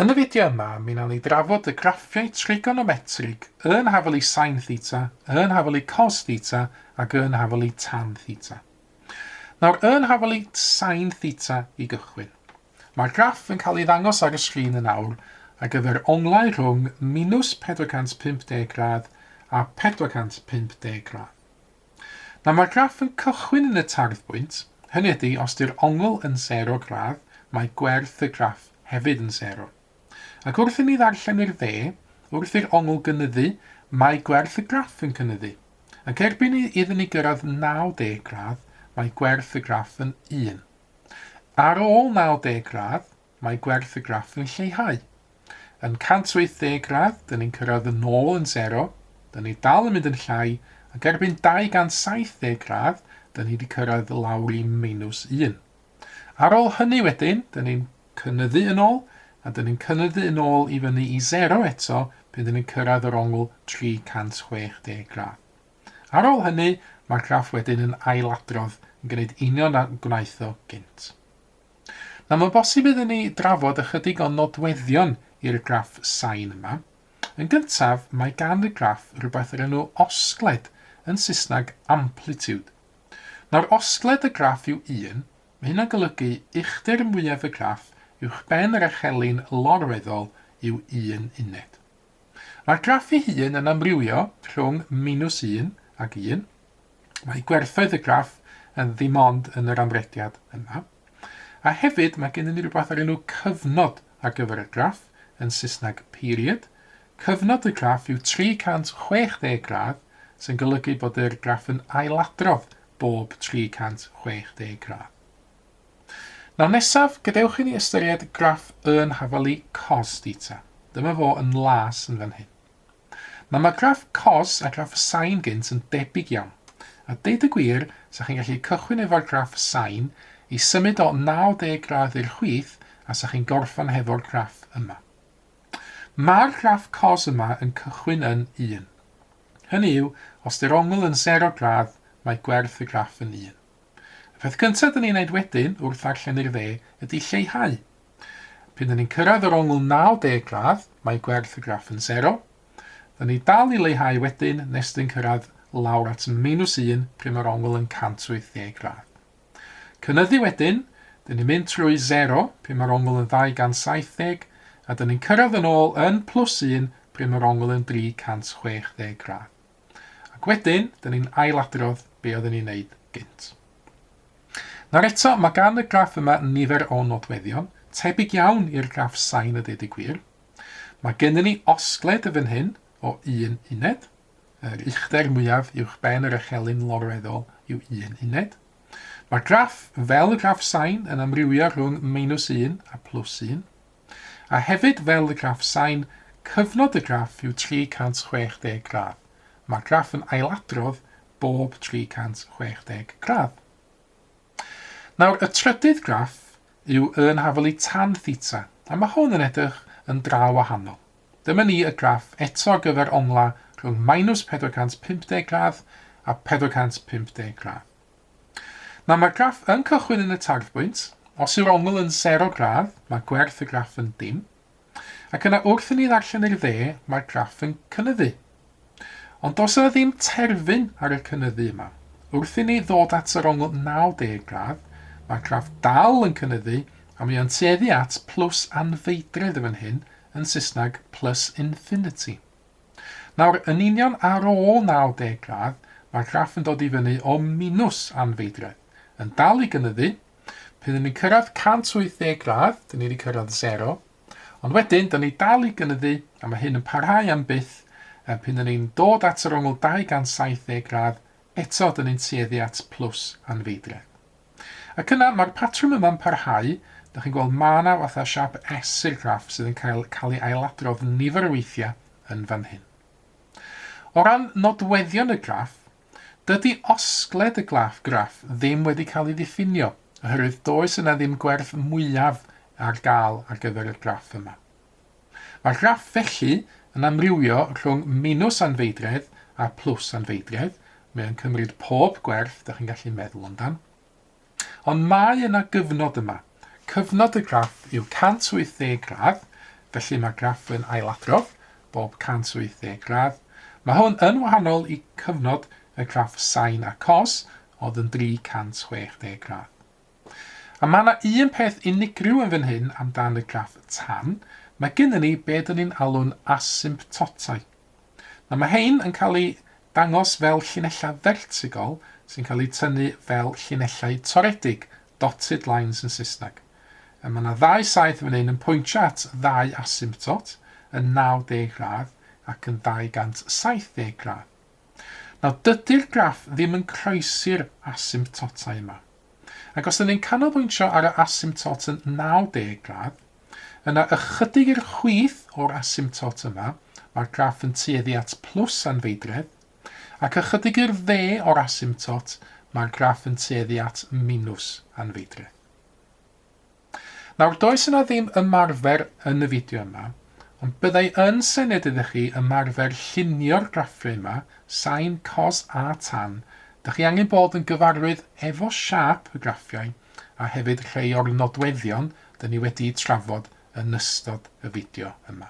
Yn y fideo yma, mi wnawn ni drafod y graffiau trigonometrig yn hafelu sin theta, yn hafelu cos theta ac yn hafelu tan theta. Nawr, yn hafelu sin theta i gychwyn. Mae'r graff yn cael ei ddangos ar y sgrin yn awr ar gyfer onglau rhwng minws 450 gradd a 450 gradd. Nawr mae'r graff yn cychwyn yn y tarddbwynt, hynny ydi os di'r ongl yn sero gradd mae gwerth y graff hefyd yn sero. Ac wrth i ni ddarllen i'r dde, wrth i'r ongl gynyddu mae gwerth y graff yn cynyddu. Ac erbyn i iddyn ni gyrraedd 90 gradd mae gwerth y graff yn 1. Ar ôl 90 gradd mae gwerth y graff yn lleihau. Yn 180 gradd, dyn ni'n cyrraedd yn ôl yn sero, dyn ni dal yn mynd yn llai, ac erbyn 270 gradd, dyn ni wedi cyrraedd lawr i minus 1. Ar ôl hynny wedyn, dyn ni'n cynyddu yn ôl, a dyn ni'n cynyddu yn ôl i fyny i sero eto pan dyn ni'n cyrraedd yr ongl 360 gradd. Ar ôl hynny, mae'r graff wedyn yn ailadrodd yn gwneud union a gwnaeth o gynt. Nawr mae'n bosib iddyn ni drafod ychydig o nodweddion i'r graff sain yma. Yn gyntaf, mae gan y graff rywbeth o'r enw osgled, yn Saesneg amplitude. Nawr, osgled y graff yw 1, mae hynna'n golygu uchder mwyaf y graff uwchben yr echelin lorweddol yw un uned. Mae'r graff ei hun yn amrywio rhwng minws un ac un. Mae gwerthoedd y graff yn ddim ond yn yr amrediad yma. A hefyd mae gennym ni rhywbeth o'r enw cyfnod ar gyfer y graff, yn Saesneg period. Cyfnod y graff yw 360 gradd, sy'n golygu bod yr graff yn ailadrodd bob 360 gradd. Nawr nesaf, gadewch i ni ystyried graff yn hafalu cos theta. Dyma fo yn las yn fan hyn. Nawr mae graff cos a graff y sain gynt yn debyg iawn. A deud y gwir, sa chi'n gallu cychwyn efo'r graff y sain, ei symud o 90 gradd i'r chwith, a sa chi'n gorffan hefo'r graff yma. Mae'r graff cos yma yn cychwyn yn 1. Hynny yw, os di'r ongl yn 0 gradd, mae gwerth y graff yn 1. Y peth cyntaf dyn ni'n neud wedyn wrth ddarllen i'r dde ydy lleihau. P'un dyn ni'n cyrraedd yr ongl 90 gradd, mae gwerth y graff yn sero. Dyn ni dal i leihau wedyn nes dyn cyrraedd lawr at meinws 1 pryd mae'r ongl yn 180 gradd. Cynyddu wedyn, dyn ni'n mynd trwy sero pryd mae'r ongl yn 270 a dyn ni'n cyrraedd yn ôl yn plus 1 pryd mae'r ongl yn 360 gradd. Ac wedyn, dyn ni'n ailadrodd be oedden ni'n neud gynt. Nawr eto, mae gan y graff yma nifer o nodweddion, tebyg iawn i'r graff sain a deud y gwir. Mae gennym ni osgled y fan hyn o un uned, yr uchder mwyaf uwch ben yr echelin lorweddol yw un uned. Mae'r graff, fel y graff sain, yn amrywio rhwng meinws un a plws un. A hefyd fel y graff sain, cyfnod y graff yw 360 gradd. Mae'r graff yn ailadrodd bob 360 gradd. Nawr, y trydydd graff yw y yn hafelu tan theta, a mae hwn yn edrych yn dra wahanol. Dyma ni y graff eto ar gyfer onglau rhwng minus 450 gradd a 450 gradd. Nawr mae'r graff yn cychwyn yn y tarddbwynt, os yw'r ongl yn sero gradd, mae gwerth y graff yn dim, ac yna wrth i ni ddarllen i'r dde, mae'r graff yn cynyddu. Ond does yna ddim terfyn ar y cynyddu yma. Wrth i ni ddod at yr ongl 90 gradd, mae'r graff dal yn cynyddu, a mae o'n tueddu at plws anfeidredd yn fan hyn, yn Saesneg plus infinity. Nawr, yn union ar ôl 90 gradd, mae'r graff yn dod i fyny o minws anfeidredd, yn dal i gynyddu, pan ry'n ni'n cyrraedd 180 gradd, dyn ni wedi cyrraedd sero, ond wedyn, dyn ni dal i gynyddu, a mae hyn yn parhau am byth, a pan ry'n ni'n dod at yr ongl 270 gradd, eto dyn ni'n tueddu at plus anfeidredd. Ac yna, mae'r patrwm yma'n parhau, dych chi'n gweld ma' 'na fatha siâp S i'r graff sydd yn cael cael ei ailadrodd nifer o weithiau yn fan hyn. O ran nodweddion y graff, dydy osgled y graff graff ddim wedi cael ei ddiffinio, oherwydd does yna ddim gwerth mwyaf ar gael ar gyfer y graff yma. Mae'r graff felly yn amrywio rhwng minws anfeidredd a phlws anfeidredd, mae o'n cymryd pob gwerth dych chi'n gallu meddwl amdan. Ond mae yna gyfnod yma. Cyfnod y graff yw 180 gradd, felly mae graff yn ailadrodd bob 180 gradd. Mae hwn yn wahanol i cyfnod y graff sain a cos, oedd yn 360 gradd. A mae yna un peth unigryw yn fan hyn am dan y graff tan, mae gynnon ni be dyn ni'n alw'n asymptotau. Nawr mae hein yn cael eu dangos fel llinellau fertigol sy'n cael eu tynnu fel llinellau toredig, dotted lines yn Saesneg. A mae yna ddau saith fan hyn yn pwyntio at ddau asymptot, yn 90 gradd ac yn 270 gradd. Nawr, dydy'r graff ddim yn croesi'r asymptotau yma. Ac os ydyn ni'n canolbwyntio ar y asymptot yn 90 gradd, yna ychydig i'r chwith o'r asymptot yma, mae'r graff yn tueddu at plws anfeidredd, ac ychydig i'r dde o'r asymptot, mae'r graff yn tueddu at minws anfeidredd. Nawr does yna ddim ymarfer yn y fideo yma, ond byddai yn sened iddo chi ymarfer llunio'r graffiau yma, sain, cos a tan. Dych chi angen bod yn gyfarwydd efo siâp y graffiau a hefyd rhei o'r nodweddion dyn ni wedi'u trafod yn ystod y fideo yma.